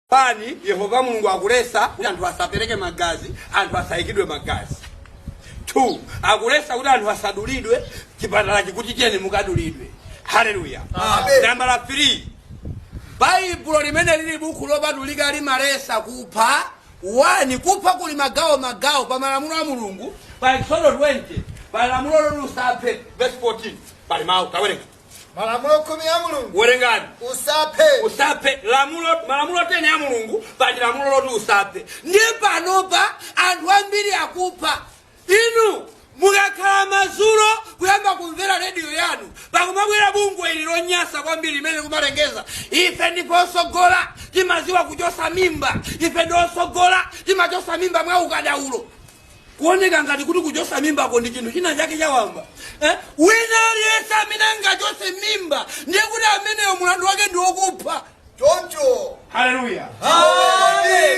Pali, Yehova Mulungu akulesa kuti anthu asapereke magazi, anthu asaikidwe magazi. 2 akulesa kuti anthu asadulidwe, chipatala chikuti tiyeni mukadulidwe. Haleluya. Amen. Nambala 3 baibulo limene lili buku lopatulika limalesa kupha 1 kupha kuli magawo magawo pa malamulo a mulungu pa eksodo 20 pa lamulo loti usaphe verse 14 pali mawu tawerenga malamulo khumi a mulungu werengani usaphe usaphe lamulo malamulo 10 ya mulungu pali lamulo loti usaphe ndiye panopa anthu ambiri akupha inu mukakhala madzulo kuyamba kumvera rediyo yanu pakumabwera bungwe ili lonyasa kwambiri limene kumalengeza ife ndife osogola timaziwa kuchosa mimba ife ndi osogola timachosa mimba mwa ukadaulo kuoneka ngati kuti kuchotsa mimbako ndi chinthu china chake chawamba eh? wina aliyense amene angachotse mimba ndiye kuti ameneyo mulandu wake ndi wokupha choncho haleluya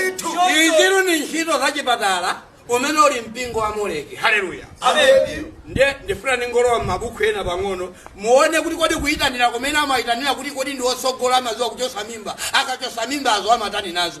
Ndithu. izitu ndi ntchito za chipatala umene uli mpingo wa moleki haleluya Amen. ndiye ndifuna ndingolowa m'mabuku ena pang'ono muone kuti kodi kuyitanira kumene amayitanira kuti kodi ndi otsogola amaziwa kuchotsa mimba akachotsa mimbazo amatani nazo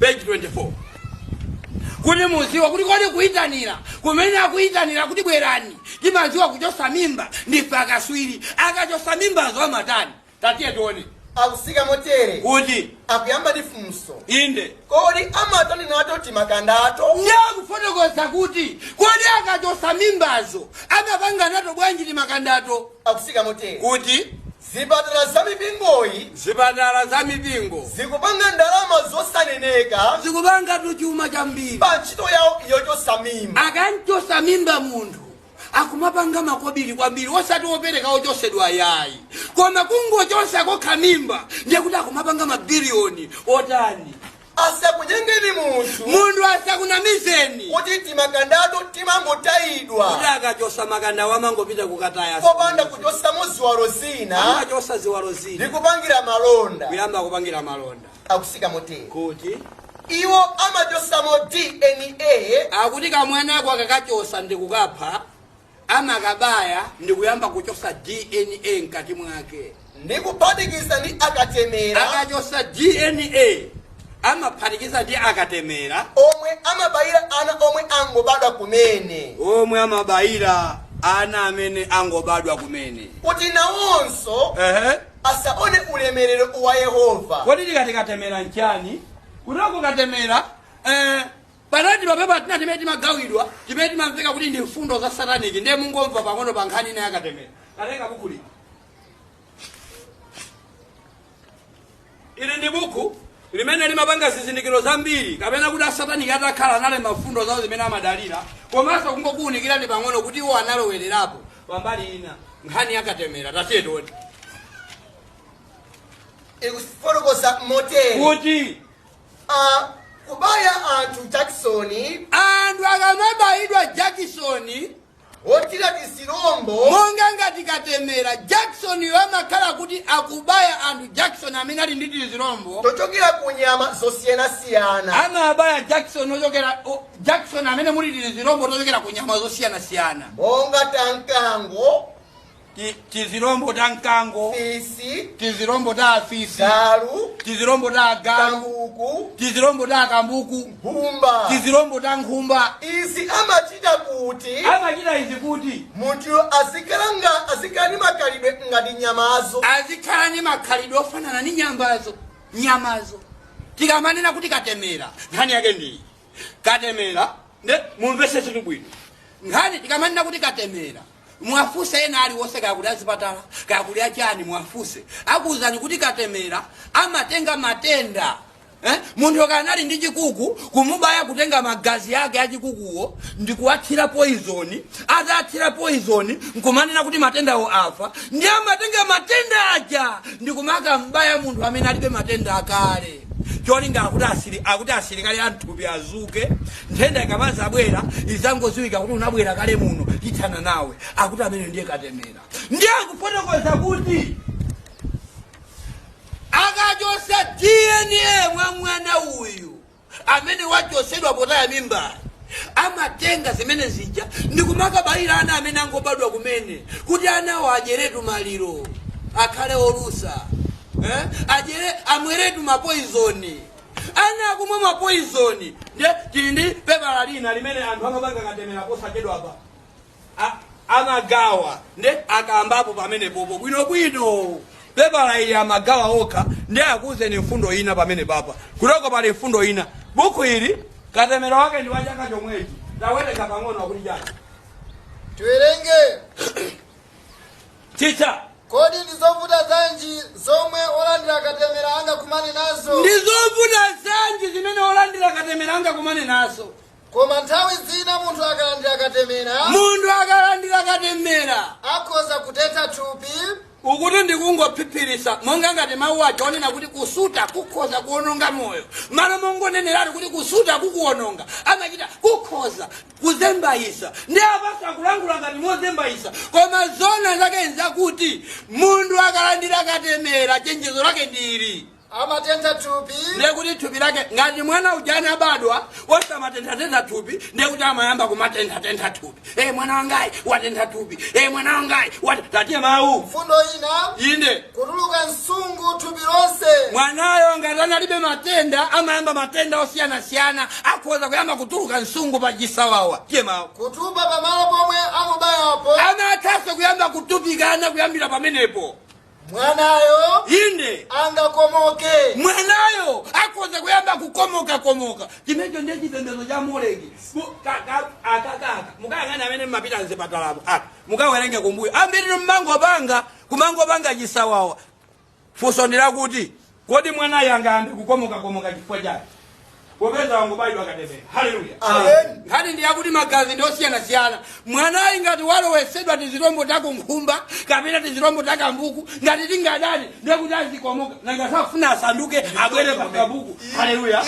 page 24 kuti muziwa kuti kodi kuyitanira kumene akuyitanira kuti bwerani timaziwa kuchosa mimba ndife akaswiri akachosa mimbazo amatani tatiye tione akusika motere kuti akuyamba ndi funso inde kodi amatani nato timakandato ndiye akufotokoza kuti kodi akachosa mimbazo amapanga nato bwanji timakandato akusika motere kuti Zipatala za mipingoyi. Zipatala za mipingo. Zikupanga ndalama zosaneneka. Zikupangatu chuma chambiri. Pa ntchito yawo yochotsa mimba. Akamchotsa mimba munthu akumapanga makobiri kwambiri osati wopereka wochotsedwa ayayi koma kungochotsa kokha mimba ndiye kuti akumapanga mabiliyoni otani. asakunyengeni munthu munthu asakunamizeni kuti timakandatu timangotayidwa kuti akachosa makandawo amangopita kukataya popanda kuchosamo ziwalo zina amachosa ziwalo zina ndi kupangira malonda kuyamba kupangira malonda akusika motere kuti iwo amachosamo dna akuti kamwanako akakachosa ndi kukapha amakabaya ndikuyamba kuchosa dna mkati mwake ndi kuphatikiza ndi akatemera akachosa dna amaphatikiza ndi akatemera omwe amabayira ana omwe angobadwa kumene omwe amabayira ana amene angobadwa kumene kuti nawonso ehe asaone ulemerero wa yehova kodi tikati katemera nchani kutoko katemera eh, Panali timapepala tina timene timagawidwa timene timamveka kuti ndi mfundo za sataniki ndiye mungomva pang'ono pa nkhani ina yakatemera ndatenga buku lino ili ndi buku limene limapanga zizindikiro zambiri kapena kuti asataniki atakhala analemba mfundo zawo zimene amadalira komanso kungokuwunikirani pang'ono kuti iwo analowererapo pambali ina nkhani yakatemera tatiye tione ikufotokoza motere kuti a kubaya anthu jakisoni anthu akamabayidwa jakisoni wothira tizirombo monga ngati katemera jakisoniyo amakhala kuti akubaya anthu jakisoni amene ali ndi tizirombo tochokera ku nyama zosiyanasiyana amabaya jakisoni ochokera o- jakisoni amene muli tizirombo tochokera ku nyama zosiyanasiyana monga ta mkango ti- tizilombo ta mkango fisi tizilombo ta afisi galu tizilombo ta agalu kambuku tizilombo ta akambuku nkhumba tizilombo ta nkhumba izi amachita kuti amachita izi kuti munthu azikalanga azikhala ndi makhalidwe ngati nyamazo azikhala ndi makhalidwe ofanana ndi nyambazo nyamazo tikamanena kuti katemera nkhani yake ndiyi katemera nde mumvese zinthu bwino nkhani tikamanena kuti katemera Muwafunse ena aliwonse kaya kuli azipatala kaya kuli achani muwafunse akuwuzani kuti katemera amatenga matenda eh? Munthu akali ndi chikuku kumubaya kutenga magazi ake achikukuwo ndikuwathira poison atathira poison nkumanena kuti matendawo afa ndiye amatenga matenda aja ndikumakambaya munthu amene alibe matenda akale Cholinga akuti asili akuti asilikali a mthupi azuke nthenda ikamazabwera izangoziwidwa kuti unabwera kale muno tithana nawe akuti ameneyo ndiye katemera ndiye akufotokoza kuti akachosa DNA mwa mwana uyu amene wachosedwa potaya mimbayi Amatenga zimene zija ndi kumakabayira ana amene angobadwa kumene kuti anawo adyeretu maliro, akhale olusa, eh, adyere, amweretu mapoizoni. Ana akumwa mapoizoni. Ndiye tili ndi pepala lina limene anthu akamapanga katemera posachedwapa. a- amagawa nde akambapo pamenepopo bwinobwino pepala ili amagawa okha nde akuuzeni mfundo ina pamenepapa kunoko pali mfundo ina buku ili katemera wake ndi wa chaka chomwechi tawerengani pang'ono akuti chani tiwerenge chicha kodi ndi zovuta zanji zomwe olandira katemera angakumane nazo ndi zovuta zanji zimene olandira katemera angakumane nazo koma nthawi zina munthu akalandira katemera munthu akalandira katemera akhoza kutentha thupi ukuti ndikungophiphiritsa monga ngati mawu aja onena kuti kusuta kukhoza kuononga moyo malo mongoneneratu kuti kusuta kumaononga amachita kukhoza kuzembayisa ndiye apanso akulankhula ngati mozembayisa koma zona zake nzakuti munthu akalandira katemera chenjezo lake ndili amatentha thupi ndiye kuti thupi lake ngati mwana ujanu anabadwa osamatenthatentha thupi ndiye kuti amayamba kumatenthatentha thupi e mwana wangayi watentha thupi e mwana wangayi wat- tatiye mawu mfundo ina inde kutuluka nsungu thupi lonse mwanayo ngati analibe matenda amayamba matenda osiyanasiyana akhoza kuyamba kutuluka nsungu pa chisawawa tiye mawu kutupa pamalo pomwe amubayapo amathanso kuyamba kutupikana kuyambira pamenepo mwanayo inde angakomoke mwanayo akhoza kuyamba kukomoka komoka chimecho ndiye chipembedzo cha moleki Mu- ka- ka- aka kaka mukayang'ane amene mmapita mzipatalamo aka mukawerenge kumbuyo ambirino mmangopanga kumangopanga chisawawa funso ndi lakuti Kodi mwanayu angayambe kukomokakomoka chifukwa chani popeza wangobayidwa katemera? Haleluya! Amen. Nkhani ndi yakuti magazi ndi osiyanasiyana. Mwanayi ngati walowesedwa tizilombo ta kunkhumba kapena tizilombo ta kambuku, ngati sitingadane ndiye kuti azikomoka, nanga sakufuna asanduke abwere pa kambuku. Haleluya!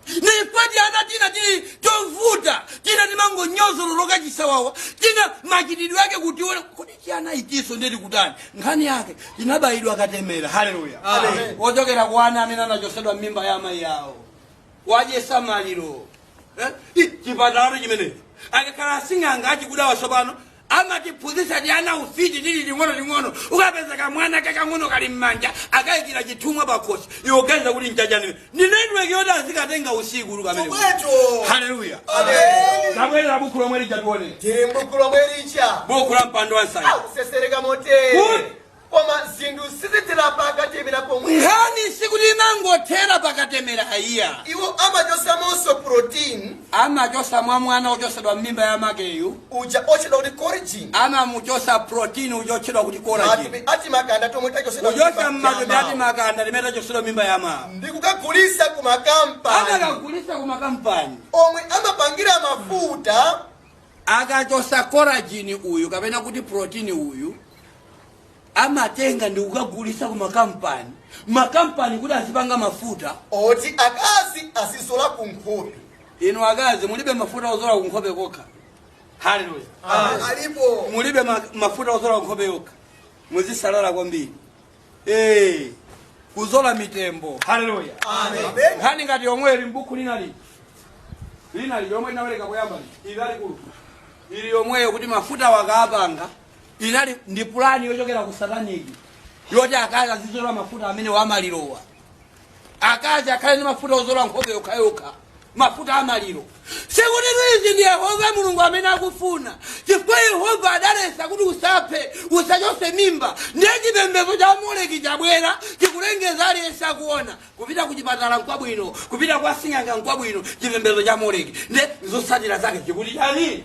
ndipo tiana tina tili tovuta tina timangonyozololoka chisawawa tina machitidwe ake kutiona kuti tiana itiso ndiri kutani nkhani yake tinabayidwa katemera haleluya Amen. ochokera kwa ana amene anachosedwa m'mimba ya amayi awo wadyesa maliro Eh? Ih, chipatalato chimenechi akakhala asing'anga achikudawa tsopano amatiphunzitsa tiana ufiti tili ling'ono ling'ono ukapeza kamwana kakang'ono kali m'manja akayikira chithumwa pakhosi iwe uganiza kuti nchachani ndi network yoti azikatenga usiku uluka amene Chomwecho. haleluya Amen. tabwerera mbuku lomwe lija tione Tiri m'buku lomwe lija. buku la mpando wa nsanja Lakusesereka Good. motere. Koma zinthu sizithera pakatemera pomwe. nkhani sikuti inangothera pakatemera ayiya Iwo amachosamonso protein Amachosa mwa mwana wochosedwa m'mimba ya amakeyu. uja otchedwa kuti collagen. Amamuchosa protein uja otchedwa kuti collagen. Matupi a timakanda tomwe tachosedwa Kuchosa m'mimba ya mmatupi amawo. a timakanda timene tachosedwa m'mimba ya amawo. Ndi kukagulisa ku makampani Amakagulisa ku makampani. omwe amapangira mafuta Akachosa collagen uyu kapena kuti protein uyu amatenga ndi kukagulisa ku makampani makampani kuti azipanga mafuta oti akazi azizola ku nkhope inu akazi mulibe mafuta ozola ku nkhope kokha haleluya alipo mulibe ma- mafuta ozola ku nkhope yokha muzisalala kwambiri Eh, kuzola mitembo haleluya Amen. nkhani ngati yomwe ili m'buku lina lili lina lili yomwe inawerengeka kuyamba lili ili lalikulu ili yomweyo kuti mafuta wakapanga inali ndi pulani yochokera ku sataniki yoti akazi azizola mafuta amene wamalirowa akazi akhale ndi mafuta ozola nkhope yokhayokha mafuta amaliro sikutitu izi ndi yehova mulungu amene akufuna chifukwa yehova adaletsa kuti usaphe usachotse mimba ndiye chipembedzo cha moleki chabwera chikulengeza aliyense akuona kupita ku chipatala nkwabwino kupita kwa sing'anga nkwabwino chipembedzo cha moleki ndiye zotsatira zake chikuti chani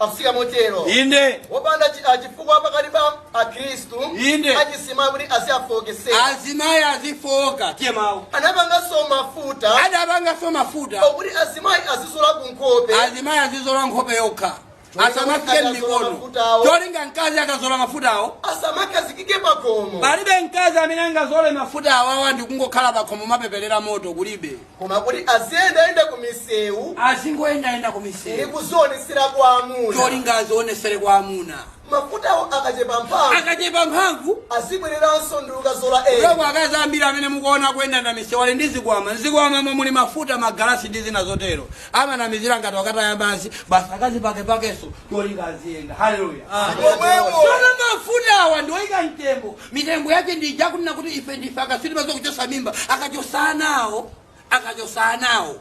afika motero inde wopanda chi- ah, chifukwa pakati pa akhristu Inde. achizimayi kuti aziwafooketsera azimayi azifooka tiye mawu anapanganso mafuta adapanganso mafuta okuti azimayi azizola ku nkhope azimayi azizola nkhope yokha asamafike m'mikono cholinga mkazi akazola mafutawo asamakhazikike pakhomo palibe mkazi amene angazole mafutawo awa ndikungokhala pakhomo mapepelera moto kulibe koma kuti aziyendayenda ku misewu azingoyendayenda ndi kumisewu kuzionetsera kwa amuna cholinga azionetsere kwa amuna mafutawo akachepa mphamvu akachepa mphamvu azibwereranso ndikukazola ena loko akazi ambiri amene mukuona kuyenda na misewu ali ndi zikwama mzikwamamo muli mafuta magalasi ndi zina zotero amanamizira ngati okataya madzi basi akazipakepakenso cholinga aziyenda haleluya Amen. Omwewo. Tsono mafuta awa ndioyika mtembo mitembo yake ndi ija kunena kuti ife ndife akatswiri pa zokuchotsa mimba akachotsa anawo akachotsa anawo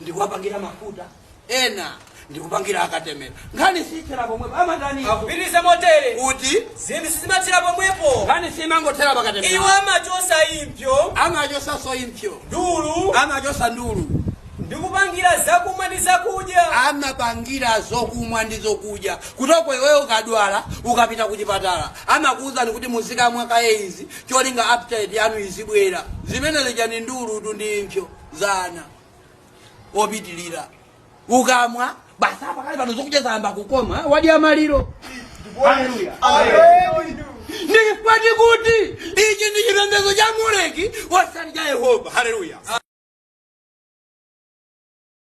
ndikuwapangira mafuta ena ndikupangira akatemera nkhani siyithera pomwepo amatani akupitiriza motere kuti zinthu sizimathera pomwepo nkhani siyimangothera iwo pakatemera amachotsa impsyo amachotsanso impsyo ndulu amachotsa ndulu ndi kupangira zakumwa ndi zakudya. amapangira zokumwa ndi zokudya kutoko iweyo ukadwala ukapita kuchipatala amakuuzani kuti muzikamwa kaye izi cholinga appetite yanu izibwera zimene zija ndi ndulutu ndi impsyo za ana opitilira ukamwa basi apa kale pano zokudya zayamba kukoma wadya maliro Hallelujah. ndi kunati kuti ichi ndi chipembedzo cha moleki osati cha yehova haleluya